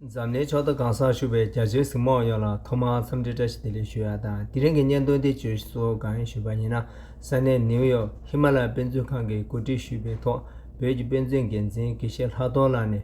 འཛམ་གླིང་ཕྱོགས་མཐའ་གང་སར་བཞུགས་པའི་རྒྱ་ཆེའི་གཟིགས་མོའང་ཡོད་ལ་ཐོག་མར་འཚམས་འདྲི་བཀྲ་ཤིས་བདེ་ལེགས་ཞུ་ཡག་དང་དེ་རིང་གི་སྙན་ཐུང་འདི་བརྗོད་གཙོ་བོ་གང་ཡིན་ཞུས་པ་ཡིན་ན་ས་གནས་ནིའུ་ཡོག་ཧི་མ་ལ་དཔེ་མཛོད་ཁང་གིས་གོ་སྒྲིག་ཞུས་པའི་ཐོག་བོད་ཀྱི་དཔེ་མཛོད་འགན་འཛིན་དགེ་བཤེས་ལྷག་རྡོར་ལགས་ནས་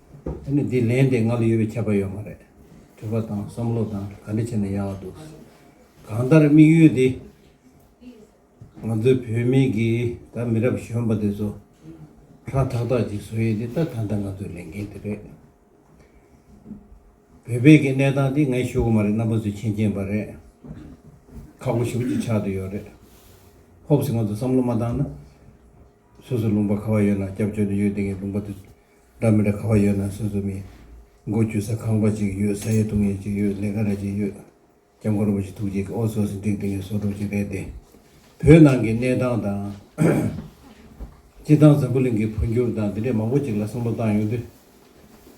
ད་ནི་འདི་ལན་དེ་ང་ལ་ཡོད་པའི་ཁྱད་པར་ཡོད་མ་རེད། ཐོས་པ་དང་བསམ་བློ་དང་ག་འདྲ་བྱས་ན་ཡག་འདུག། གང་ལྟར་དམིགས་ཡུལ་དེ། ང་ཚོའི་བོད་མི་གིས་ད་མི་རབས་གཞོན་པ་དེ་ཚོ་ཁྲག་ཐག་ཐག་ཅིག་བཟོ་ཡི་དེ་ད་ད་ལྟ་ང་ཚོའི་ལས་འགན་དེ་རེད། བོད་པའི་གི་གནས་སྟངས་དེ་ངས་ཤོད་གི་མ་རེད་རྣམ་པ་ཚོས་མཁྱེན་མཁྱེན་པ་རེད། ཁག་པོ་ཞི་བོ་ཅིག་ཆགས་དུ་ཡོད་རེད། ཧོབ་སི་ང་ཚོ་བསམ་བློ་མ་བཏང་ན། སོ་སོ་ལུང་པ་ཁ་བ་ཡོད་ན་སྐྱབས་བཅོལ་དུ་ཡོད་དེ་གའི་ལུང་པ་དེ། འདྲ་མི་འདྲ་ག་བ་ཡོད་ན་སོ་སོ་མི། མགོ་བརྒྱུད་ས་ཁང་པ་གཅིག་ཡོད་ས་ཡས་ཐུགས་ངེས་གཅིག་ཡོད་ལས་ཀ་ར་གཅིག་ཡོད། སྐྱབས་མགོན་རིན་པོ་ཆེ་ཐུགས་རྗེ་གི་ཨོ་སོ་སི་འགྲིག་དེ་ངས་སོ་དྲུག་ཅིག་རེད་དེ། བོད་ནང་གི་གནས་སྟངས་དང། སྤྱི་ཐང་འཛམ་བུ་གླིང་གི་འཕོ་འགྱུར་དང་འདི་འདྲས་མང་པོ་ཅིག་ལ་བསམ་བློ་བཏང་ཡོང་དུས།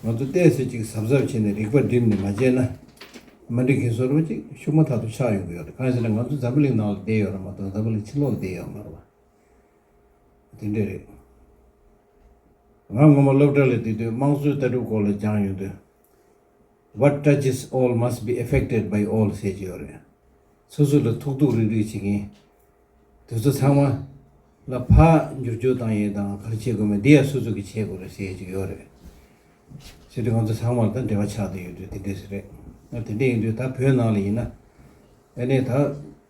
ང་ཚོ་བལྟས་ཚོད་ཅིག་གཟབ་གཟབ་བྱས་ནས་རིག་པ་བསྒྲིམས་ནས་མ་དཔྱད་ན། མ་འགྲིག་གི་སོ་དྲུག་ཅིག་ཤུགས་མ་ཐག་ཏུ་ཆགས་ཡོང་གི་ཡོད་རེད་གང་ཞེ་ན་ང་ཚོ་འཛམ་བུ་གླིང་ནང་ལ་བསྡད་ཡོད་ར་མ་གཏོགས་འཛམ་བུ་གླིང་ཕྱི་ལོག་ལ་བསྡད་ཡོད་མ་རེད། དེ་འདྲས་རེད། ང་སྔོན་མ་སློབ་གྲྭ་ལ་བསྡད་དུས་དམངས་གཙོའི་ལྟ་གྲུབ་སྐོར་ལ་སྦྱངས་ཡོང་དུས། What touches all must be affected by all བཤད་ཀྱི་ཡོད་རེད། སོ་སོ་ལ་ཐུག་ཐུག་རིག་རིག་བྱེད་མཁན་དེ་ཚོ་ཚང་མ་ལ་ཕར་འགྱུར་བཅོས་བཏང་ཡོད་དང་ཕར་ཕྱེ་དགོས་མེད་འདི་ཡང་སོ་སོ་གིས་བྱེད་དགོས་རེད་བཤད་ཀྱི་ཡོད་རེད། བྱས་དུས་ང་ཚོ་ཚང་མར་ད་འབྲེལ་བ་ཆགས་ཏེ་ཡོད་དུས་དེ་འདྲས་ཟེར་རེད། དེ་འདྲས་ཡིན་དུས་ད་བོད་ནང་ལ་ཡིན་ན། ཨ་ནེ་ད།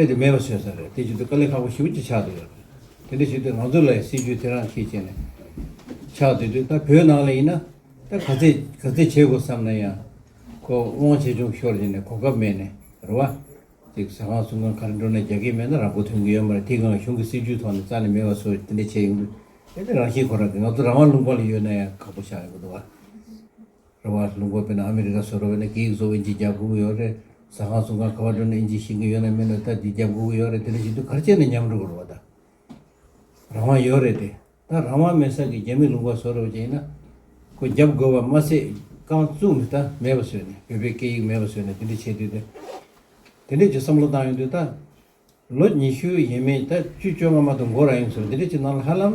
དཔེ་དེ་མེད་པ་བཟོས་ས་རེད་དེ་བཞིན་དུ་དཀའ་ལས་ཁག་པོ་ཞིག་བོད་ཀྱི་ཆགས་འདུག་ཡོད་དེ་འདྲ་ཞིག་ཏུ་རང་ཚུགས་ལ་ཡང་སྲིད་ཇུས་དེ་རང་ཁེ་བྱས་ནས་ཆགས་འདུག་དུས་ད་བོད་ནང་ལ་ཡིན་ན་ད་ག་ཚད་ག་ཚད་བྱེད་དགོས་བསམ་ན་ཡང་ཁོ་དབང་ཆེ་ཆུང་ཤོར་བྱས་ནས་གོ་སྐབས་མེད་ནས་རེད་བ། ཅིག་ཟ་ཁང་གསུམ་ཁང་ག་རེ་འགྲོ་ནས་རྒྱག་གིན་མེད་ན་ར་གོ་ཐོན་གི་ཡོད་མ་རེད་དེ་གང་གཞུང་གི་སྲིད་ཇུས་ཐོག་ནས་རྩ་ནས་མེད་པ་སོགས་དེ་འདྲ་བྱས་ཡོང་གི་རེད་དེ་རང་བཞིན་ཁོ་རང་གིས་ང་ཚོ་རང་དབང་ལུང་པ་ལ་ཡོད་ན་ཡང་ཁག་པོ་ཆགས་ཡོང་གི་འདུག་བ། རེད། རེ་བ་ལུང་པ་དཔེར་ན་ཨ་མི་རི་ཀ་སོགས་རེ་བས་ན་སྐད་ཡིག་བཟོ་བ་ཨིན་ཇི་རྒྱབ་འགོག་གི་ཡོད་རེད། ཟ་ཁང་སྲུང་ཁང་ཁ་བ་འགྲོ་ན་ཨིན་ཇི་བཞེངས་ཀྱི་ཡོད་ན་མི་ནོར་ཐ་དེ་རྒྱབ་འགོག་གི་ཡོད་རེད་དེ་འདྲ་ཞིག་དུས་གར་སྤྱད་ན་ཉམས་འགྲོ་གི་རེད་བ་ད། རང་དབང་ཡོད་རེད་དེ། ད་རང་དབང་མེད་ས་ཀྱི་རྒྱ་མི་ལུང་པ་བཟོ་རེ་བ་ཅན་ཡིན་ན། ཁོ་རྒྱབ་དགོས་བ་མ་ཟད་རྐང་བཙུགས་ནས་ད་མེད་བ་བཟོས་ནས་བོད་པའི་སྐད་ཡིག་མེད་བ་བཟོས་ནས་དེ་འདྲ་བྱས་དུས་ད། དེ་འདྲ་ཅིག་བསམ་བློ་བཏང་ཡོང་དུས་ད། ལོ་ཉི་ཤུ་ཡས་མས་ད་བཅུ་བཅོ་ལྔ་མ་གཏོགས་མགོ་རག་ཡོང་ཟེར་བ་དེ་འདྲ་ཅིག་གནང་ན་ཧ་ལམ།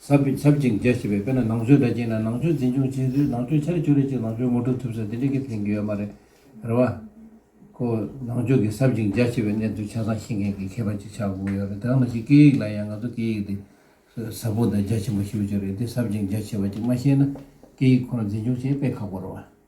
ཟབ་པའི་ཁྱབ་ཅིང་རྒྱ་ཆེ་བས་དཔེར་ན་ནང་ཆོས་འདྲ་སྐྱེས་ན་ནང་ཆོས་འཛིན་སྐྱོང་བྱེད་དུས་ནང་ཆོས་ཆ་རེ་ཅོ་རེ་གཅིག་ནང་ཆོས་ངོ་སྤྲོད་ཐུབ་ཚད་དེ་འདྲའི་གི་ཐེངས་གི་ཡོད་མ་རེད་རེད་བ། ཁོ། ནང་ཆོས་ཀྱི་ཟབ་ཅིང་རྒྱ་ཆེ་བའི་གནད་དུ་ཆ་ཚང་ཤེས་མཁན་གི་མཁས་པ་ཅིག་ཆགས་དགོས་ཀྱི་ཡོད་རེད་དེའང་མ་ཤེས་སྐད་ཡིག་ལ་ཡང་ང་ཚོ་སྐད་ཡིག་དེ། ཟབ་པོ་དང་རྒྱ་ཆེན་པོ་ཤེས་ཀྱི་རེད་དེ་ཟབ་ཅིང་རྒྱ་ཆེ་བ་ཅིག་མ་ཤེས་ན་སྐད་ཡིག་ཁོ་ན་འཛིན་སྐྱོང་བྱེད་དཔེ་ཁག་པོ་རེད་བ།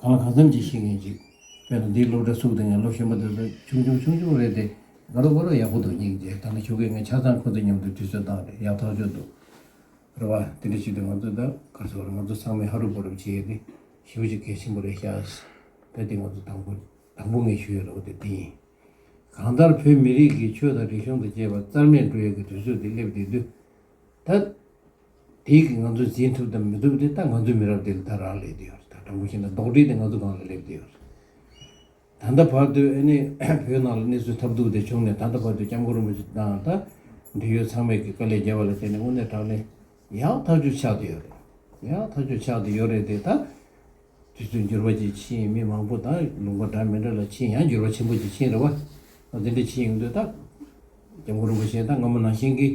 གང་ལ་གང་འཚམ་གྱིས་ཤེས་ངེས་ཅིག། དཔེར་ན་འདིའི་སློབ་གྲྭ་ཚུགས་དུས་ངས་སློབ་གཞོན་པ་འདི་ཚོ་ཆུང་ཆུང་ཆུང་ཆུང་རེད་དེ། དགའ་རོགས་དགའ་རོགས་ཡག་པོ་འདུག་སྙིང་རྗེ་ད་ནི་ཞུ་གི་ངས་ཆ་ཚང་ཁོ་ཚོའི་མཉམ་དུ་དུས་ཚོད་བཏང་སྟེ་ཡག་ཐག་ཆོད་འདུག་རེད་བ། དེ་འདྲ་བྱེད་དུས་ང་ཚོས་ད་ག་ཚོད་བར་ང་ཚོ་ཚང་མས་ཧ་རུབ་ཧ་རུབ་བྱེད་ཡོད་དེ། ཞེ་བོ་ཅིག་གལ་ཆེན་པོ་རེད་ཤག་ཨཱས། གལ་ཏེ་ང་ཚོ་དང་པོ། དང་པོ་ངས་ཞུ་ཡི་རེད་བ་དེ་འདི་ཡིན། གང་ལྟར་བོད་མི་རིགས་ཀྱི་ཆོས་དང་རིག་གཞུང་དང་བཅས་པ་རྩར་མེད་འགྲོ་ཡི་གི་དུས་ཚོད་འདི་སླེབས་བསྡད་དུས། ད། དེའི་གིས་ང་ཚོ་འཛིན་ཐུབ་དམ་མི་ཐུབ་དེ་ད་ང་ཚོའི་མི་རབས་འདི་ལ་ད་རག་ལས་དེ་ཡོད་རེད་ད་དྲང་པོ་བཤད་ན་ལྡོག་འགྲེལ་དེ་ང་ཚོ་སྒང་ལ་སླེབས་དེ་ཡོད་རེད་ད་ལྟ་བར་དུ་ཨ་ནི་བོད་ནང་ལ་གནས་ཚུལ་ཐབས་སྡུག་དེ་བྱུང་ནས་ད་ལྟ་བར་དུ་སྐྱབས་མགོན་རིན་པོ་ཆེ་དང་ད་འབྲེལ་ཡོད་ཚང་མས་གིས་དཀའ་ལས་རྒྱབ་པ་ལ་བརྟེན་ནས་དངོས་གནས་དྲག་གནས་ཡག་ཐག་ཆོད་ཆགས་དེ་ཡོད་རེད་ཡག་ཐག་ཆོད་ཆགས་དེ་ཡོད་རེད་དེ་ད་དུས་ཚོད་འགྱུར་བ་ཅིག་ཕྱིན་ཡིན་མི་མང་པོ་ད་ལུང་པ་འདྲ་མི་འདྲ་ལ་ཕྱིན་ཡང་འགྱུར་བ་ཆེན་པོ་ཅིག་ཕྱིན་རེད་བ་ད་འདི་འདྲ་ཕྱིན་ཡོང་དུས་ད་སྐྱབས་མགོན་རིན་པོ་ཆེ་ད་སྔ་མོ་ནང་བཞིན་གིས།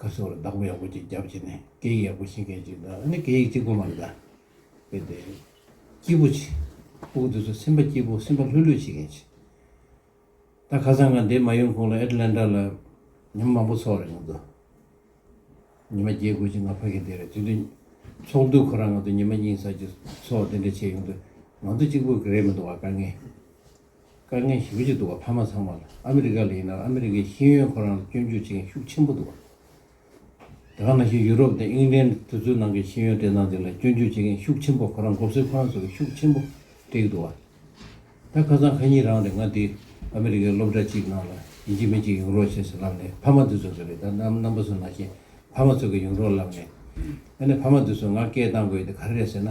ཁ་སོ་ལ་བདག་པོ་ཡག་པོ་གཅིག་བརྒྱབ་བྱས་ནས་སྐད་ཡིག་ཡག་པོ་ཤེས་མཁན་གཅིག་དང་ནི་སྐད་ཡིག་གཅིག་པོ་མ་རེད་ད། དཔེ་དེབ། སྐྱིད་པོ་ཆེ། པོ་འདི་ཚོ་སེམས་པ་སྐྱིད་པོ་སེམས་པ་ལྷོད་ལྷོད་བྱེད་མཁན་ཆེ། ད་ཁ་སང་ང་འདས་མ་ཡོང་གོང་ལ་ཨེ་ཏི་ལན་ཏྲ་ལ་ཉི་མ་མང་པོ་ཚོགས་རེད་ང་ཚོ། ཉི་མ་བརྒྱད་དགུ་ཅིག་ང་ཕ་གི་འདས་རེད་དུས་དུས་ཚོགས་འདུ་ཁོ་རང་ང་ཚོ་ཉི་མ་གཉིས་གསར་གྱི་ཚོགས་དེ་འདྲ་བྱས་ཡོང་དུས་ང་ཚོ་གཅིག་པོ་གི་རེད་མི་འདུག་བ་དཀའ་ངལ། དཀའ་ངལ་ཞིབ་ཕྲ་ཅིག་འདུག་ཕ་མ་ཚང་མ་ལ་ཨ་མི་རི་ཀ་ལ་ཡིན་ནའང་ཨ་མི་རི་ཀའི་ཤེས་ཡོན་ཁོ་རང་ལ་སྐྱོན་བརྗོད་བྱེད་མཁན་ཤུགས་ཆེན་པོ་འདུག་དེ་ག་མ་གཞི་ཡུ་རོབ་དང་ཨིང་ལན་དུ་ཚོའི་ནང་གི་ཤེས་ཡོན་བཀྲས་མཛངས་དེ་ལ་སྐྱོན་བརྗོད་བྱེད་མཁན་ཤུགས་ཆེན་པོ་ཁོ་རང་མགོ་བསུས་ཁོ་རང་ཚོ་གི་ཤུགས་ཆེན་པོ་བྲེགས་འདུག་ད་ཁ་ཚང་ཁ་གཉིས་རང་རེད་ང་འདི་ཨ་མི་རི་ཀའི་སློབ་གྲྭ་ཅིག་ནང་ལ་ཡིན་གཅིག་མིན་གཅིག་ཡོང་རོགས་བྱེད་ཟེར་ལབ་ནས་ཕ་མ་འདི་ཚོ་ཚོ་རེད་ད་རྣམ་པ་ཚོ་ནང་བཞིན་ཕ་མ་ཚོ་གི་ཡོང་རོགས་ལབ་ནས་ཨ་ནེ་ཕ་མ་འདི་ཚོ་ང་སྐད་བཏང་དགོས་ཡོད་དེ་ག་རེ་རེད་ཟེར་ན།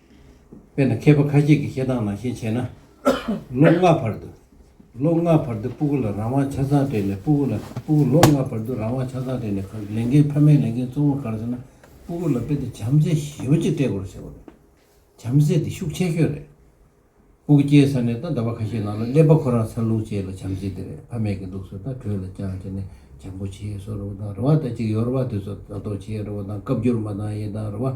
དཔེར་ན་མཁས་པ་ཁ་ཤས་ཀྱིས་བཤད་སྟངས་ནང་བཞིན་བྱས་ན། ལོ་ལྔ་བར་དུ། ལོ་ལྔ་བར་དུ་སྤུ་གུ་ལ་རང་དབང་ཆ་ཚང་སྤྲད་ནས་སྤུ་གུ་ལ་སྤུ་གུ་ལོ་ལྔ་བར་དུ་རང་དབང་ཆ་ཚང་སྤྲད་ནས་གར་ལེན་མཁན་ཕ་མའི་ལེན་མཁན་གཙོ་བོ་གར་ཟེར་ན་སྤུ་གུ་ལ་དཔེ་དེབ་བྱམས་བརྩེ་ཞེ་བོ་གཅིག་སྤྲད་དགོས་རེད་ཟེར་བ་རེད། བྱམས་བརྩེ་དེ་ཤུགས་ཆེ་ཤོས་རེད། སྤུ་གུ་སྐྱེས་ས་ནས་ད་ཟླ་བ་ཁ་ཤས་ནང་ལ་སླེབས་པ་ཁོ་རང་ཚར་ལུགས་བྱས་ལ་བྱམས་བརྩེ་དེ་རེད་ཕ་མེད་ཀྱི་འདུག་ཟེར་ད་གྲོས་ལ་བཅང་བྱས་ནས་བྱམས་པོ་བྱེད་ཟོ་རེ་བ་དང་རེ་བ་ད་ཅིག་ཡོ་རེ་བ་དེ་ཚོ་བཟའ་བཏོག་བྱེད་རེ་བ་དང་སྐབས་འགྱུར་མ་བཏང་ཡེ་དང་རེ་བ།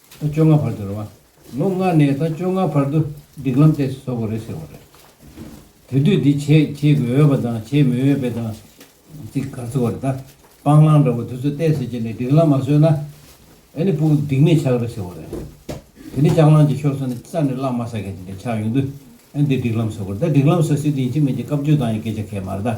ད་བཅོ་ལྔ་བར་དུ་རེད་བ། ལོ་ལྔ་ནས་ད་བཅོ་ལྔ་བར་དུ་སྒྲིག་ལམ་བཏེགས་སུ་ཚོགས་དགོས་རེད་ཟེར་བ་རེད། དེ་དུས་འདི་བྱེད་བྱེད་དགོས་འོས་པ་དང་བྱེད་མི་འོས་པའི་དང། ཅིག་ག་ཚོད་བ་རེད་ད། སྤང་བླང་འདྲ་བོ་དེ་ཚོ་བཏེགས་ཟེར་བྱས་ནས་སྒྲིག་ལམ་མ་བཟོས་ན། ཨ་ནི་པུ་སྡིག་མེད་ཆགས་རེད་ཟེར་བ་རེད། དེ་ནི་ལྕགས་ལང་ཅིག་ཤོར་སོང་ནས་རྩ་ནས་གླག་མ་ཟ་མཁན་དེ་འདྲ་ཆགས་ཡོང་དུས། ཨ་འདི་སྒྲིག་ལམ་བཟོ་དགོས་རེད་ད་སྒྲིག་ལམ་ཟ་སྲིད་དུ་ཡིན་གཅིག་མིན་གཅིག་བཀའ་བརྒྱུད་དང་ཡང་སྐད་ཆ་ཁས་མ་རེད་ད།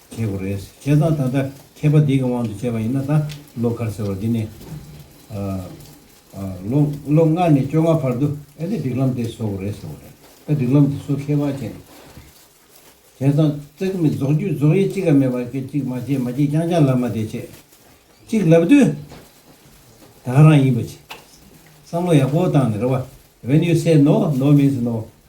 ཁྱད་པར་རེད། བྱས་ཙང་ད་ལྟ་མཁས་པ་འདི་གི་དབང་དུ་བྱས་པ་ཡིན་ན་ད་ལོ་ཁར་ཟེར་བ་འདི་ནས། ལོ་ལོ་ལྔ་ནས་བཅོ་ལྔ་བར་དུ་ཨེ་དེ་སྒྲིག་ལམ་དེ་བཟོ་དགོས་རེད་ཟེར་བ་རེད། ད་སྒྲིག་ལམ་དེ་བཟོ་མཁས་པ་ཅན། བྱས་ཙང་རྩེ་གུ་མི་རྫོགས་རྒྱུ་རྫོགས་ཡས་ཅི་ག་མེད་པར་ཀྱི་ཅིག་མ་བྱས་མ་བྱས་རྐྱང་རྐྱང་ལབ་མ་བསྡད་བྱས། ཅིག་ལབ་དུས། དག་རང་ཡིན་པ་བྱས། བསམ་བློ་ཡག་པོ་བཏང་ནས་རེ་བ། When you say no, no means no།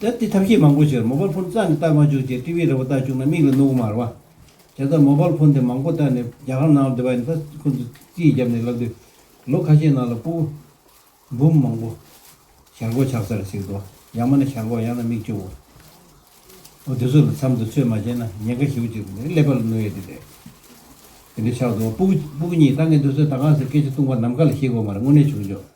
གལ་ཏེ་ཐབས་ཤེས་མང་པོ་ཆེར་མོ་པར་ཕུར་བཙགས་ནས་བཏགས་མ་བཅུག་ཅེས་ཏི་བའི་རེ་བ་བཏགས་བཅུག་ན་མིག་ལ་སྣུག་གུ་མར་བ། བྱས་ཙང་མོ་པར་ཕུར་འདི་མང་པོ་བཏགས་ནས་རྒྱ་གར་ནང་བསྡུ་བ་ཡིན་ད་ཁོང་ཚོས་རྩིས་བརྒྱབ་ནས་བསླབ་དུས། ལོ་ཁ་ཤས་ནང་ལ་སྤུ། འབུམ་མང་པོ། ཞར་མགོ་ཆགས་ཚར་ཟིག་དོ། ཡང་མ་ན་ཞར་མགོ་ཡང་ན་མིག་བཅུག་བོ། འོ་དེ་ཚོ་ལ་མཚམས་འདི་ཚོད་མ་བྱས་ན་ཉེན་ཁ་ཞིབ་ཅིག་འདི་ཀླད་པ་ལ་ནུ་ཡོད་དེ་རེད། དེ་འདྲའི་ཆགས་འདུག་བ་སྤུ་གུ་གཉིས་བཏགས་ངས་འདི་ཚོད་ད་གང་ཟེར་སྐད་ཆ་ལྟུང་བ་ནམ་མཁའ་ལ་གཤེགས་དགོས་མ་རེད་དངོས་གནས་བྱུང་ཆོག།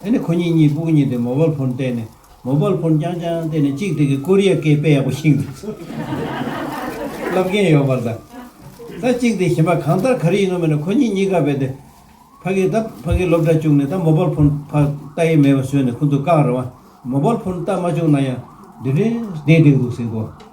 དེ་ནས་ཁོ་གཉིས་གཉིད་སྤུག་གཉིས་དེ་མོ་པལ་ཕོན་བལྟས་ནས་མོ་པལ་ཕོན་རྐྱང་རྐྱང་བལྟས་ནས་གཅིག་དེ་གའི་ཀོ་རི་ཡ་ཀའི་དཔེ་ཡག་པོ་ཤིག་འདུག་ལབ་མཁན་ཡོད་པར་དང། ད་གཅིག་དེ་གཞན་པ་གང་ལྟར་ག་རེ་ཡིན་ནོ་མེད་ན་ཁོ་གཉིས་གཉིད་ཁ་བས་དེ། ཕ་གིས་ད་ཕ་གིས་སློབ་གྲྭ་བཅུག་ནས་ད་མོ་པལ་ཕོན་ཕ་ལྟ་ཡི་མེད་པ་བཟོས་ནས་ཁོ་ཚོ་བཀག་རོགས། མོ་པལ་ཕོན་ལྟ་མ་བཅུག་ན་ཡང་འདི་འདྲའི་བདེ་འདེགས་འདུག་ཟེར་གོ།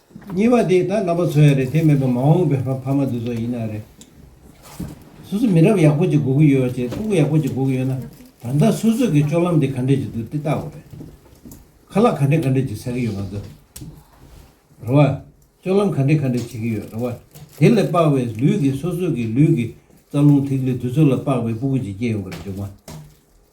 གཉིས་པ་དེ་ད་རླབས་པ་ཚོ་ཡང་རེད་དེ་མེད་པ་མ་འོངས་པའི་ཕ་མ་དེ་ཚོ་ཡིན་ན་རེད། སོ་སོ་མི་རབས་ཡག་པོ་ཅིག་འགོ་གི་ཡོད་ཅེས་སྤུ་གུ་ཡག་པོ་ཅིག་འགོ་གི་ཡོད་ན་ད་ལྟ་སོ་སོས་ཀྱི་སྤྱོད་ལམ་དེ་ག་འདྲས་ཅིག་འདུག་དེ་བལྟ་དགོས་རེད། ཁ་ལག་ག་འདྲས་ག་འདྲས་ཅིག་ཟ་གི་ཡོད་ང་ཚོས་རེད་བ། སྤྱོད་ལམ་ག་འདྲས་ག་འདྲས་བྱེད་ཀྱི་ཡོད་རེད་བ། དེ་ལས་དཔག་བའི་ལུས་ཀྱི་སོ་སོས་ཀྱི་ལུས་ཀྱི་རྩ་རླུང་ཐིག་ལེ་དུས་ཚོད་ལ་དཔག་པའི་སྤུ་གུ་ཅིག་སྐྱེ་ཡོང་གི་རེད་འདུག་མ།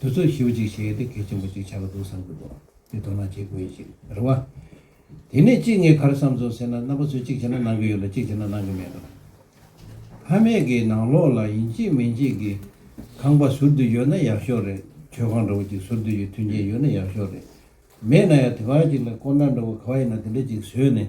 དུ་ཚོད་ཞིབ་ཅིག་བྱས་ཏེ་གལ་ཆེན་པོ་གཅིག་ཆགས་འདུག་བསམ་གྱི་འདུག་དེ་དོ་སྣང་བྱེད་དགོས་ཤིག་རེད་བ། དེ་ནས་གཅིག་ངས་གར་བསམ་སོང་ཟེར་ན་རྣམ་པ་ཚོས་གཅིག་བྱས་ན་གནང་གི་ཡོད་ལ་གཅིག་བྱས་ན་གནང་གི་མེད་དོ། ཕ་མེས་ཀྱི་ནང་ལོགས་ལ་ཡིན་གཅིག་མིན་གཅིག་གི་ཁང་པ་ཟུར་དུ་ཡོད་ན་ཡག་ཤོག་རེད་དྲོད་ཁང་འདྲ་བོ་གཅིག་ཟུར་དུ་ཡོད་མཐུན་རྐྱེན་ཡོད་ན་ཡག་ཤོག་རེད། མེད་ན་ཡང་དུས་གང་ཞིག་ལ་སྐོར་ནག་འདྲ་བོ་ག་བ་ཡིན་ན་དེ་འདྲ་གཅིག་བཟོས་ནས་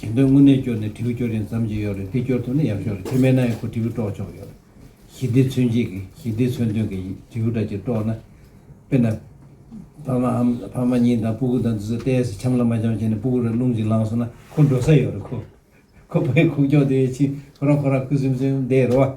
གཞན་དོན་དངོས་གནས་སྐྱོར་ནས་དྲིའུ་སྐྱོར་ཡང་ཙམ་གྱི་ཡོད་རེད་དེ་སྐྱོར་ཐུབ་ན་ཡག་ཤོས་རེད་དེ་མེད་ན་ཡང་ཁོ་དྲིའུ་དཀྲོག་ཆོག་ཡོད་རེད་ཞི་བདེ་མཚོན་བྱེད་ཀྱི་ཞི་བདེ་མཚོན་དོན་གྱི་དྲིའུ་འདྲ་གཅིག་དཀྲོག་ན་དཔེར་ན། ཕ་མ་ཨམ་ཕ་མ་གཉིས་དང་སྤུ་གུ་དང་འདི་ཚོ་ལྟས་སུ་འཁྱམ་ལ་མ་འཁྱམ་བྱས་ནས་སྤུ་གུ་ར་རླུང་གཅིག་ལངས་སོང་ན་ཁོ་འགྲོ་ས་ཡོད་རེད་ཁོ་ཁོ་ཕའི་ཁུག་ཀྱོག་དེ་ཡིན་ཕྱིན་ཁོ་རང་ཁོ་རང་ཁུ་སིམ་སིམ་བསྡད་རོ།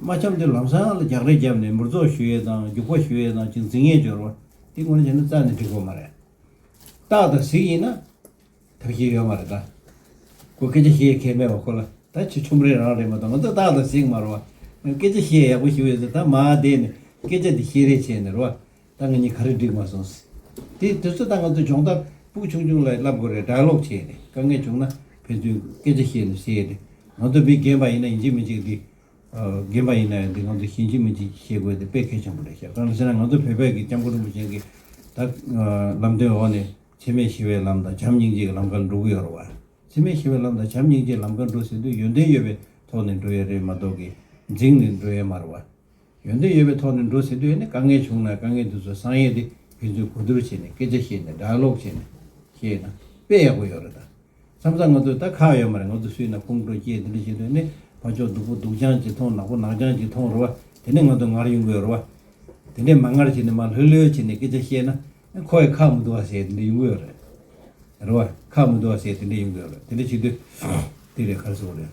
མ་འཁྱམས་ཏེ་ལམ་སང་ལ་རྒྱག་རེས་བརྒྱབ་ནས་མིར་རྫོགས་ཞུ་ཡས་དང་རྒྱུག་པ་ཞུ་ཡས་དང་གཅིག་འཛིང་ངེས་སྦྱོར་བ་འདི་ངོ་ན་བྱས་ན་རྩ་ནས་འགྲིག་པོ་མ་རེད། སྟག་དང་གཟིག་ཡིན་ན་དག་གྱི་ཡོད་མ་རེད་ད། ཁོ་སྐད་ཆ་བཤད་མཁན་མེད་པ་ཁོ་ལ་ད་ཆེ་ཆུང་རེད་རང་རེད་མ་གཏོགས་ང་ཚོ་སྟག་དང་གཟིག་མ་རོ་བ། སྐད་ཆ་བཤད་ཡག་པོ་ཞུ་ཡས་ཚོ་ད་མ་བསྡད་ནས་སྐད་ཆ་འདི་བཤད་རེས་བྱས་ནས་རོ་བ། ད་ང་གཉིས་ག་རེ་འགྲིག་མ་སོང། དེ་དུས་ཚོད་ད་ང་ཚོས་སྦྱོང་སྟབས་སྤུག་ཆུང་ཆུང་ལ་བསླབ་དགོས་རེད་གྲྭའི་ལོག་བྱས་རེད་དཀའ་ངལ་བྱུང་ན་ཕན་ཚུན་སྐད་ཆ་བཤད་ནས་བྱས་རེད་ང་ཚོ་མི་རྒན་པ་ཡིན་ན་ཡིན་གཅིག་མིན་གཅིག་འདི། རྒན་པ་ཡིན་ན་ཡང་འདི་ང་ཚོ་གཞན་གཅིག་མིན་གཅིག་ཤེས་དགོས་དེ་དཔེ་གལ་ཆེན་པོ་རེད་ཤག་གང་ལ་ཞེ་ན་ང་ཚོ་བོད་པས་ཀྱི་སྐྱབས་མགོན་རིན་པོ་ཆེན་གྱི་ད་ལམ་སྟོན་འོག་ནས་འཚེ་མེད་ཞི་བའི་ལམ་དང་བྱམས་སྙིང་རྗེ་གྱི་ལམ་ཁར་འགྲོ་གི་ཡོད་རེད་བ། འཚེ་མེད་ཞི་བའི་ལམ་དང་བྱམས་སྙིང་རྗེའི་ལམ་ཁར་འགྲོ་ཟེར་དུས་ཡོན་ཏན་ཡོད་པའི་ཐོག་ནས་འགྲོ་ཡས་རེད་མ་གཏོགས་གི་རྫིང་ནས་འགྲོ་ཡས་མ་རེད་བ། ཡོན་ཏན་ཡོད་པའི་ཐོག་ནས་འགྲོ་ཟེར་དུས་ནི་དཀའ་ངལ་བྱུང་ན་དཀའ་ངལ་དེ་ཚོ་བསམ་ཡས་ཏེ་ཕན་ཚུན་གོ་བསྡུར་བྱས་ནས་སྐད་ཆ་བཤད་ནས་སྒྲ་ཀློག་བྱས་ནས་བཤད་ན་དཔེ་ཡག་པོ་ཡོད་རེད་ད། མཚམས་མཚམས་ང་ཚོས་ད་ཁག་ཡོད་མ་རེད་ང་ཚོ་སུའི་ནང་ཁུངས་དཀྲོལ་སྐྱེལ་དེ་འདྲ་བྱེད་དུས་ནི་ཕ་ཅོག་སྡུག་པོ་སྡུག་ཅང་ཅིག་ཐོང་ནག་པོ་ནག་ཅང་ཅིག་ཐོང་རོ་བ་དེ་ནི་ང་ཚོ་ངར་ཡོང་གི་རོ་བ། དེ་འདྲས་མ་ངར་བྱས་ནས་མ་ལྷོད་ལྷོད་བྱས་ནས་སྐད་ཆ་བཤད་ན་ཁོ་ཡི་ཁག་མི་བསྡུ་བ་ཟེར་དེ་འདྲས་ཡོང་གི་ཡོད་རེད། རེད་བ། ཁག་མི་བསྡུ་བ་ཟེར་དེ་འདྲས་ཡོང་གི་ཡོད་རེད་དེ་འདྲས་བྱེད་དུས་དེ་རེད་ག་རེ་ཟེར་བ་རེད།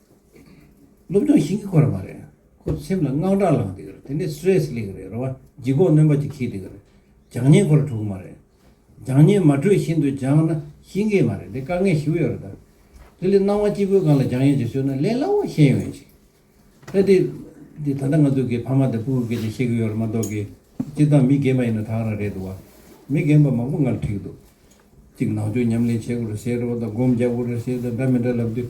སློབ་སྦྱོང་ཤིང་གི་ཁོ་ར་མ་རེད། ཁོ་ཚོ་སེམས་ལ་དངངས་སྐྲག་ལངས་འདི་གི་རེད་དེ་འདྲའི stress ལེགས་རེད་ར་བ་ལྗིད་ཁོག་གནོན་པ་ཅིག་ཁེལ་འདི་གི་རེད། སྦྱང་ཉེན་ཁོ་ར་འཁྲུག་གི་མ་རེད། སྦྱང་ཉེན་མ་འཁྲུག་བཞིན་དུ་སྦྱངས་ན་ཤིང་གི་མ་རེད་འདི་དཀའ་ངལ་ཞིག་ཡོད་རེད་ད། དེ་ལས་སྣང་བ་སྐྱིད་པོའི་སྒང་ལ་སྦྱང་ཡོན་ཅིག་བཟོས་ན་ལས་སླ་བོ་ཤེས་ཡོན་ཅིག་རེད་དེ། དེ་ད་ལྟ་ང་ཚོ་གི་ཕ་མ་དང་སྤུན་གུ་སྐད་ཆ་བཤད་གི་ཡོད་ར་མ་གཏོགས་གི། སྤྱིར་བཏང་མི་རྒན་པ་ཡིན་ན་དག་ར་རེད་འདུག་བ། མི་རྒན་པ་མང་པོ་ང་ལ་འཁྲིགས་འདུག། གཅིག་ནང་ཆོས་ཉམས་ལེན་བྱེད་དགོས་ར་ཟེར་ར་བ་དང་སྒོམ་རྒྱག་དགོས་ར་ཟེར་དང་འདྲ་མི་འདྲ་ལབ་དུས།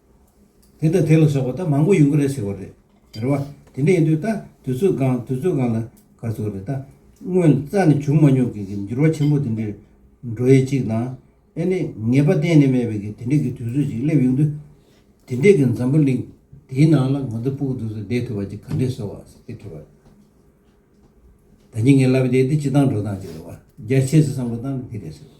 དེ་དང་དེ་ལ་སོགས་པ་ད་མང་པོ་ཡོང་གི་རེད་ཟེར་བ་རེད། རེད་བ། དེ་འདྲ་ཡིན་དུས་ད་དུས་ཚོད་སྒང་དུས་ཚོད་སྒང་ལ་ག་ཚོད་རེད་ད། སྔོན་རྩ་ནས་བྱུང་མ་མྱོང་གི་གི་འགྱུར་བ་ཆེན་པོ་དེ་འདྲའི་འགྲོ་ཡས་ཅིག་ན། ཨེ་ནི་ངེས་པ་གཏན་ནས་མེད་པའི་གི་དེ་འདྲའི་གི་དུས་ཚོད་ཅིག་སླེབས་ཡོང་དུས། དེ་འདྲའི་གི་འཛམ་བུ་གླིང་དེའི་ནང་ལ་ང་ཚོ་སྤུ་གུ་དུས་ཚོད་བསྡད་ཐུབ་པ་ཅིག་ག་འདྲས་བཟོ་བ་ཟེར་ཐུབ་བ་རེད། ད་ཉིད་ངས་ལབ་པའི་དེ་དེ་སྤྱི་སྟངས་འགྲོ་སྟངས་ཅིག་རེད་བ། རྒྱ་ཆེ་ཚོས་བསམ་དགོས་སྟངས་ནི་འདི་རེད་ཟེར་བ།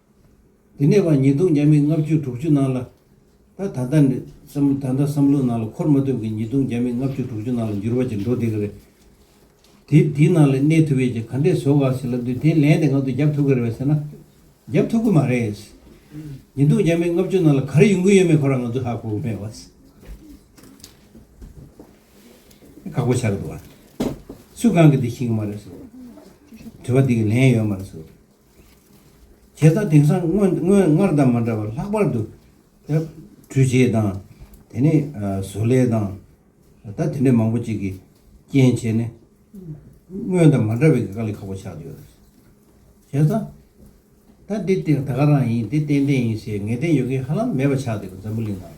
དེ་ནས་བར་ཉིས་སྟོང་བརྒྱ་མེད་ལྔ་བཅུ་དྲུག་ཅུ་ནང་ལ། ད་ད་ལྟ་ནི། བསམ་ད་ལྟ་བསམ་བློའི་ནང་ལ་འཁོར་མ་ཐུབ་ཀྱི་ཉིས་སྟོང་བརྒྱ་མེད་ལྔ་བཅུ་དྲུག་ཅུ་ནང་ལ་འགྱུར་བ་ཅིག་འགྲོ་བསྡད་ཀྱི་རེད། དེ་དེའི་ནང་ལ་གནས་ཐུབ་ཡོད་ཀྱི་ག་འདྲས་བཟོ་ག་ཟེར་ལབ་དུས་དེ་ལན་དེ་ང་ཚོ་རྒྱབ་ཐུབ་ཀྱི་རེད་བས་ཟེར་ན། རྒྱབ་ཐུབ་ཀྱི་མ་རེད། ཉིས་སྟོང་བརྒྱ་མེད་ལྔ་བཅུ་ནང་ལ་ག་རེ་ཡོང་གི་ཡོད་མེད་ཁོ་རང་ང་ཚོས་ཧ་གོ་གི་མེད་བས། བཀག་པོ་ཆགས་འདུག་བ། སུས་གང་གིས་དེ་ཤེས་ཀྱི་མ་རེད། དྲི་བ་འདི་གི་ལན་ཡོད་མ་རེད། དེ་ལྟར་དེང་སང་སྔོན་སྔར་དང་མ་འདྲ་བར་ལྷག་པར་དུ། འཕྲུལ་ཆས་དང། དེ་ནས་བཟོ་ལས་དང། ད་དེ་འདྲའི་མང་པོ་ཅིག་གིས་རྐྱེན་བྱས་ནས། སྔོན་དང་མ་འདྲ་བའི་དཀའ་ལས་ཁག་པོ་ཆགས་ཡོད། བྱས་ཙང། ད་འདི་ལྟར་ད་ག་རང་ཡིན་དེ་ཏན་ཏན་ཡིན་ཟེར་ངེས་གཏན་ཡོད་མཁན་ཧ་ལམ་མེད་པ་ཆགས་བསྡད་པ་འཛམ་བུ་གླིང་ནང།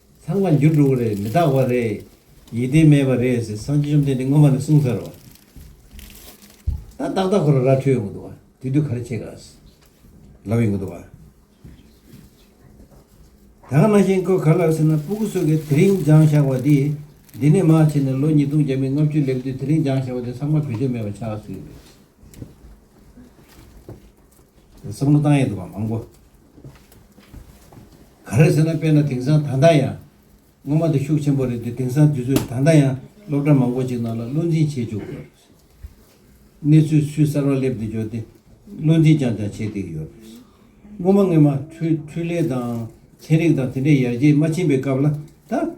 ཚང་མ་འགྱུར་འགྲོ་བ་རེད་མི་རྟག་བ་རེད་ཡིད་བརྟན་མེད་པ་རེད་ཟེར་སངས་རྒྱས་བཅོམ་ལྡན་འདས་སྔོན་མ་ནས་གསུངས་ཚར་བ། ད་ཏག་ཏག་ཁོ་རང་ར་འཕྲོད་ཡོང་གི་འདུག་བ་དེ་དུས་ག་རེ་བྱེད་དགའ་ལབ་ཡོང་གི་འདུག་བ། ད་ག་ནང་བཞིན་ཁོས་ག་ལབ་ཟེར་ན་སྤུ་གུ་སོགས་ཀྱིས་དེ་རིང་སྦྱང་བཞག་བ་དེ་འདི་ནས་མ་བྱས་ནས་ལོ་ཉིས་སྟོང་བརྒྱ་མི་ལྔ་བཅུ་སླེབས་དུས་དེ་རིང་སྦྱང་བཞག་བ་དེ་ཚང་མ་བོད་ཆོས་མེད་པ་ཆགས་སུ་ཡོད་པའི་བསམ་བློ་བཏང་ཡས་འདུག་བ་མང་པོ། ག་རེད་ཟེར་ན་དཔེར་ན་དེང་སང་ད་ལྟ་ཡང། སྔོན་མ་དང་ཤུགས་ཆེན་པོ་རེད་འདུག་དེང་སང་དུས་ཚོད་ད་ལྟ་ཡང་སློབ་གྲྭ་མང་པོ་ཅིག་ནང་ལ་བློ་འཛིན་བྱེད་བཅུག་དགོས་རེད། གནས་ཚུལ་ཚུལ་གསར་བ་སླེབས་འདི་འབྱོར་ཏེ། བློ་འཛིན་རྐྱང་རྐྱང་བྱེད་བསྡད་ཀྱི་ཡོད་རེད། སྔོན་མ་སྔོན་མ། འཕྲུལ་ལས་དང། ཚན་རིག་དང་དེ་འདྲའི་ཡར་རྒྱས་མ་ཕྱིན་པའི་སྐབས་ལ་ད།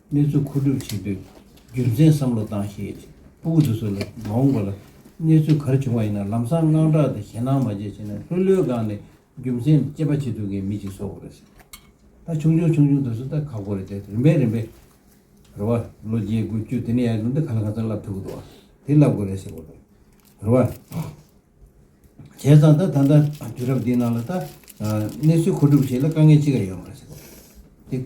གནས་ཚུལ་མཁོ་སྒྲུབ་བྱེད་པའི་རྒྱུ་མཚན་བསམ་བློ་བཏང་ཞེས་ཕུ་བོ་དེ་ཚོ་ལ་མ་འོངས་པར་གནས་ཚུལ་ག་རེ་བྱུང་བ་ཡིན་ན་ལམ་སང་དངངས་སྐྲག་དང་ཞེད་སྣང་མ་བྱེད་བྱས་ན་ལྷོད་ལྷོད་སྒང་ནས་རྒྱུ་མཚན་དཔྱད་པ་བྱེད་ཐུབ་མཁན་མི་གཅིག་བཟོ་དགོས་རེད། ད་ཆུང་ཆུང་ཆུང་ཆུང་དེ་ཚོ་ད་ཁག་པོ་རེད་དེ་རིམ་པས་རིམ་པས་རེད་བ། ལོ་བརྒྱད་དགུ་བཅུ་དེ་ནས་ཡར་རྒྱུན་དེ་ག་ལ་ག་ཚོད་བསླབ་ཐུབ་དགོས་དེ་བསླབ་དགོས་རེད་ཟེར་དགོས་རེད་བ། བྱས་ཙང་ད་ད་ལྟ་དུས་རབས་འདིའི་ནང་ལ་ད་གནས་ཚུལ་མཁོ་སྒྲུབ་བྱེད་ལ་དཀའ་ངལ་ཅི་ག་ཡོད་མ་རེད་ཟེར་དགོས་རེད།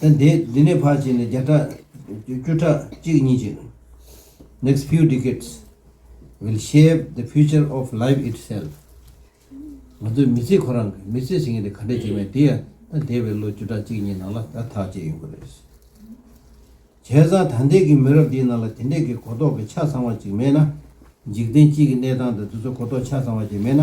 ཐེངས་འདིའི་འདི་ནས་ཕར་ཕྱིན་ནི་བརྒྱ་ཕྲག་བཅུ་ཕྲག་གཅིག་གཉིས་ཅིག next few decades will shape the future of life itself ང་ཚོའི་མི་ཚེ་ཁོ་རང་གིས་མི་ཚེ་ཟིན་གྱི་ནི་ག་འདྲས་བྱས་མིན་དེ་ཡང་ད་འདས་པའི་ལོ་བཅུ་ཕྲག་གཅིག་གཉིས་ནང་ལ་ད་ཐག་བཅད་ཡོང་གི་རེད། བྱས་ཙང་ད་འདས་ཀྱི་མི་རབས་འདིའི་ནང་ལ་དེ་འདྲས་ཀྱི་གོ་རྟོགས་ཀྱི་ཆ་ཚང་བ་ཅིག་མེད་ན། འཇིག་རྟེན་སྤྱིའི་གནས་སྟངས་དང་དུས་ཚོད་གོ་རྟོགས་ཆ་ཚང་བ་ཅིག་མེད་ན།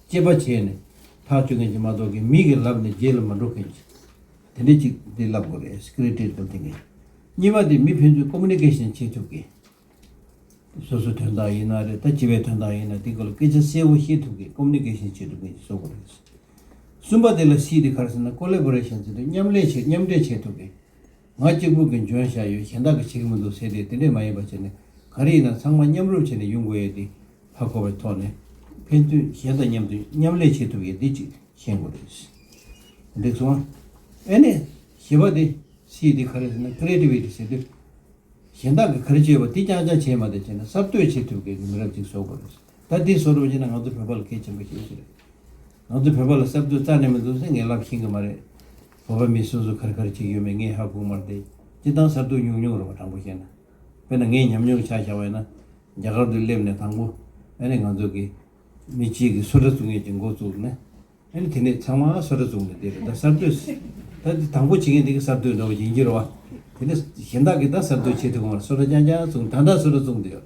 སྤྱད་པ་བྱས་ནས་ཐག་གཅོད་མཁན་གྱི་མ་གཏོགས་ཀྱི་མིག་གི་ལབ་ནས་རྗེས་ལ་མ་འགྲོ་མཁན་གྱི། དེ་འདྲའི་གཅིག་དེ་བསླབ་དགོས་རེད Secretary དང་དེ་འགའི། གཉིས་པ་དེ་མི་ཕན་ཚུན Communication བྱེད་ཐུབ་དགོས། སོ་སོའི་དོན་དག་ཡིན་ན་རེད་ད་སྤྱི་བའི་དོན་དག་ཡིན་ན་དེ་ག་ལ་སྐད་ཆ་གསལ་བོ་བཤད་ཐུབ་དགོས Communication བྱེད་ཐུབ་མཁན་གྱི་བཟོ་དགོས་རེད། གསུམ་པ་དེ་ལ་སྲིད་དེ་གར་ཟེར་ན Collaboration ཟེར་དུས་མཉམ་ལས་བྱེད་མཉམ་འབྲེལ་བྱེད་ཐུབ་དགོས། ང་གཅིག་པུ་གིས་འཇོན་བཞག་ཡོད་གཞན་དག་གིས་བྱེད་ཀྱི་མི་འདུག་ཟེར་ཏེ་དེ་འདྲས་མ་ཡིན་པ་བྱས་ནས་ག་རེ་ཡིན་ན་ཚང་མ་མཉམ་རུབ་བྱས་ནས་ཡོང་དགོས་ཡོད་དེ། ཕ་གོ་བའི་ཐོག་ནས་ཕན་ཚུན་གཞན་དང་མཉམ་དུ་མཉམ་ལས་བྱེད་ཐུབ་ཡོད་དེ་གཅིག་ཤེས་དགོས་རེད། འགྲིག་སོང། ཨེ་ནས། ཞེས་པ་དེ་སྲིད་དེ་ག་རེ་ཟེར་ན Creativity ཟེར་དུས། གཞན་དག་གིས་ག་རེ་བྱས་པ་དེ་རྐྱང་རྐྱང་བྱས་མ་ཐག་བྱས་ན་གསར་གཏོད་བྱེད་ཐུབ་མཁན་གྱི་མི་རབས་གཅིག་བཟོ་དགོས་རེད། ད་དེ་བཟོ་རུ་བཅུག་ན་ང་ཚོ་བོད་པ་ལ་གལ་ཆེན་པོ་ཞིག་རེད། ང་ཚོ་བོད་པ་ལ་གསར་གཏོད་རྩ་ནས་མི་འདུག་ཟེར་ངས་ལབ་ཤེས་གི་མ་རེད། བོད་པ་མི་སོ་སོ་ཁར་ཁར་ཅིག་ཡོད་མེད་ངས་ཧ་གོ་མར་བསྡད། སྤྱི་བཏང་གསར་གཏོད་ཉུང་ཉུང་རེད་བ་དྲང་པོ་བཤད་ན། དཔེར་ན་ངས་ཉམས་མྱོང་གི་ཆ་བཞག་བས་ན། རྒྱ་གར་དུ་སླེབས་ནས་དང་པོ། ཨ་ནི་ང་ཚོ་གི། མི་གཅིག་གིས་སོ་ཏྲ་བཙུགས་ངེས་ཀྱི་འགོ་བཙུགས་ནས། ཨ་ནི་དེ་ནས་ཚང་མ་སོ་ཏྲ་བཙུགས་ནས་བསྡད་རེད་ད་གསར་གཏོད། ད་འདི་དང་པོ་བྱེད་མཁན་དེ་གིས་གསར་གཏོད་འདྲ་བོ་བྱིན་གྱི་རེད་བ། དེ་ནས་གཞན་དག་གིས་ད་གསར་གཏོད་བྱེད་ཐུབ་གི་མ་རེད་སོ་ཏྲ་ཅང་ཅང་བཙུགས་ནས་ད་ལྟ་སོ་ཏྲ་བཙུགས་འདི་ཡོད།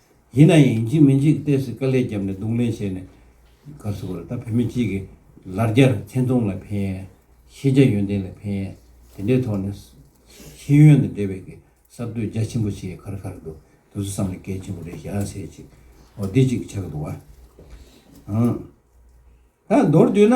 ཡིན་ན་ཡང་འཇིགས་མི་འཇིགས་བལྟས་སུ་དཀའ་ལས་བརྒྱབ་ནས་རྡུང་ལེན་བྱས་ནས། སྐབས་སུ་བོར་ད་བོད་མི་གཅིག་གིས་ལར་རྒྱར་མཚན་མཐོང་ལ་ཕན། ཤེས་བྱ་ཡོན་ཏན་ལ་ཕན། དེ་འདྲའི་ཐོག་ནས། ཤེས་ཡོན་དང་འབྲེལ་བའི་གསར་གཏོད་རྒྱ་ཆེན་པོ་ཞིག་གར་གར་འདུག་དུས་སུ་བསམ་ན་གལ་ཆེན་པོ་རེད་ཞེས་ཨ་ཟེར་ཅིག། འོ་འདི་ཅིག་བྱ་གི་འདུག་ཨང། ད་མདོར་བསྡུས་ན།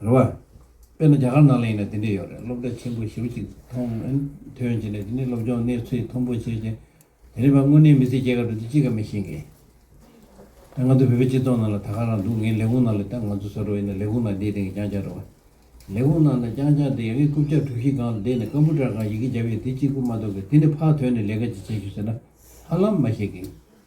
རེད་བ། དཔེར་ན་རྒྱ་གར་ནང་ལ་ཡིན་ན་དེ་འདྲས་ཡོད་རེད་སློབ་གྲྭ་ཆེན་པོ་ཞེ་བོ་ཅིག་ཐོན། ཐོན་བྱས་ནས་དེ་ནས་སློབ་སྦྱོང་གནས་ཚུལ་ཐོན་པོ་བྱས་རྗེས། དེ་རིང་བར་དངོས་གནས་མི་ཚེ་སྐྱེལ་ག་འགྲོ་དུས་ཅི་ག་མི་ཤེས་གི། ད་ང་ཚོ་བོད་པའི་སྤྱི་ཚོགས་ནང་ལ་ད་ག་རང་འདུག་ངའི་ལས་ཁུངས་ནང་ལ་ད་ང་ཚོ་སོ་འགྲོ་ཡིན་ན་ལས་ཁུངས་ནང་བསྡད་དེ་ངའི་རྐྱང་རྐྱང་རེད་བ། ལས་ཁུངས་ནང་ན་རྐྱང་རྐྱང་དེ་ཡང་ངའི་རྐུབ་ལྕགས་གྲུ་བཞི་སྒང་ལ་བསྡད་ནས་ཀམ་པུ་ཏར་སྒང་ཡི་གེ་འཇབ་ཡོད་དེ་གཅིག་པུ་མ་གཏོགས་གི་དེ་ནས་ཕར་ཐོན་ནས་ལས་ཀ་ཅིག་བྱེད་ཞུ་ཟེར་ན། ཧ་ལམ་མ་ཤེས་གི།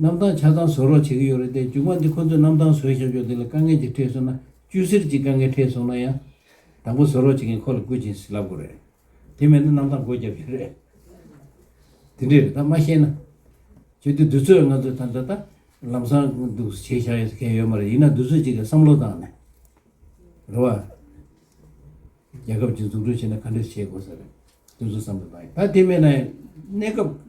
གནམ་ཐང་ཆ་ཚང་བཟོ་རོགས་བྱེད་ཀྱི་ཡོད་རེད་དེ་རྒྱུགས་མ་འདི་ཁོ་ཚོས་གནམ་ཐང་བཟོས་བཞག་ཆོག་འདི་ལ་དཀའ་ངལ་གྱི་འཕྲད་སོང་ན་ཅུས་ཟེར་གྱིས་དཀའ་ངལ་འཕྲད་སོང་ན་ཡང། དང་པོ་བཟོ་རོགས་བྱེད་མཁན་ཁོ་ལ་སྐུལ་ཅིང་བསླབ་དགོས་རེད། དེ་མེད་ན་གནམ་ཐང་སྒོ་བརྒྱབ་ཡོད་རེད། དེ་འདྲས་རེད་ད་མ་ཤེས་ན། བྱས་དུས་དུས་ཚོད་ང་ཚོས་ད་ལྟ་ད་ལམ་སང་འདུག་བྱས་བཞག་ཡོད་ས་ཁེལ་ཡོད་མ་རེད་ཡིན་ན་དུས་ཚོད་ཅིག་གི་བསམ་བློ་བཏང་ནས། རེད་བ། རྒྱལ་ཁབ་ཅིག་འཛུགས་སྐྲུན་བྱས་ན་ག་འདྲས་བྱེད་དགོས་ས་རེད་དུས་ཚོད་བསམ་བློ་བཏང་ཡོད་ད་དེ་མེད་ན་ཡང་གནས་སྐབས།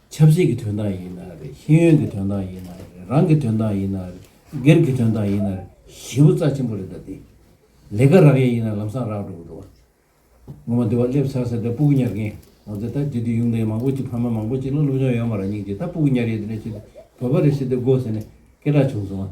ཆབ་སྲིད་ཀྱི་དོན་དག་ཡིན་ན་རེད་ཤེས་ཡོན་གྱི་དོན་དག་ཡིན་ན་རེད་རང་གི་དོན་དག་ཡིན་ན་རེད་སྒེར་གྱི་དོན་དག་ཡིན་ན་རེད་ཞེ་བོ་རྩ་ཆེན་པོ་རེད་ད་དེ། ལས་ཀ་རག་ཡས་ཡིན་ན་ལམ་སང་རག་འགྲོ་གི་འདུག་བ། ངོ་མ་དེ་བ་སླེབས་ཚར་ཚར་དེ་སྤུ་གུ་ཉར་མཁན་ང་ཚོ་ད་དེ་དུས་ཡུང་དེ་མང་པོ་གཅིག་ཕ་མ་མང་པོ་གཅིག་ལ་སློབ་སྦྱོང་ཡོད་མ་རག་ཉིག་གཅིག་ད་སྤུ་གུ་ཉར་ཡས་དེ་ནས་ཆེ་དེ་བོད་པ་རེད་ཟེར་དེ་དགོ་ཟེར་ནས་སྐད་གྲགས་བྱུང་སོང་བ།